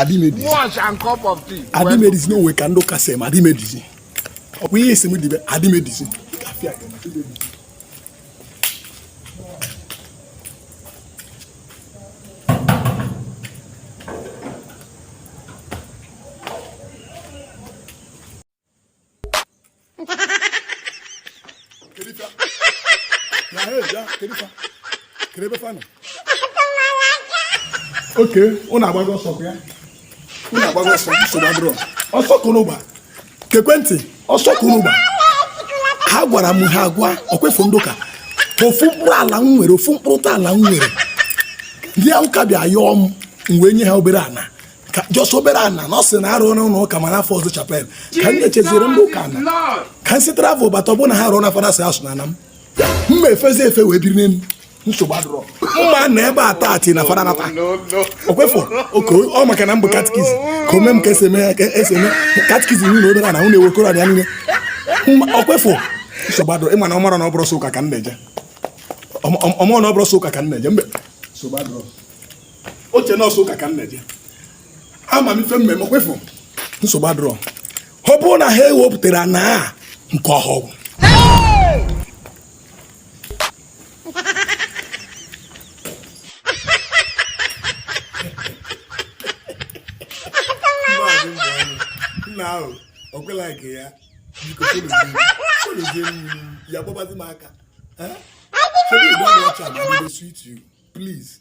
adị m edi wash and cup of tea adị m edizi na o nwe ka ndị ụka si eme adị m edizi ọ bụ ihe a sị m dibe adị m edizi oke ụnụ agbago ọsọ ya ụnụ agbago ọsọ nsogbu adịrọ ọsọ kụrụ ụgba kekwentị ọsọ kụrụ ụgba ha gwara m ha agwa ọkwa ịfụ ndị ụka ofu mkpụrụ ala m nwere ofu mkpụrụ ala m nwere ndị ụka bịa yọọ m wee nye ha obere ana ka jọs obere ana na ọ sị na arụ n'ụlọ ụka ma n'afọ ọzọ chapel ka m na-echeziri ndị ụka na ka m si travel bata ọbụna ha rụọ na fanasị asụ na ana m m ma efezi efe wee biri n'elu nsogbu adịrọ mma na ebe a taa ti na fada nata ọkwa ịfụ oke ọ maka na m bụ katikist ka ome m ka esi eme ka esi eme katikizm niile obere ana m nyere ewekọrọ ya niile ọkwa ịfụ nsogbu adịrọ ị ma na ọ marọ na ọ bụrọ sọ ụka ka m na-eje ọ marọ na ọ bụrọ sọ ụka ka m na-eje mbe nsogbu adịrọ o che na ọ sọ ụka ka m na-eje ama m ife m mee ọkwa ịfụ nsogbu adịrọ ọ bụrụ na ha ewepụtara na nke ọhụrụ nna ahụ ọ kwela nke ya ya gbabazị m aka Show me the one watch am, I go dey sweet you. Please.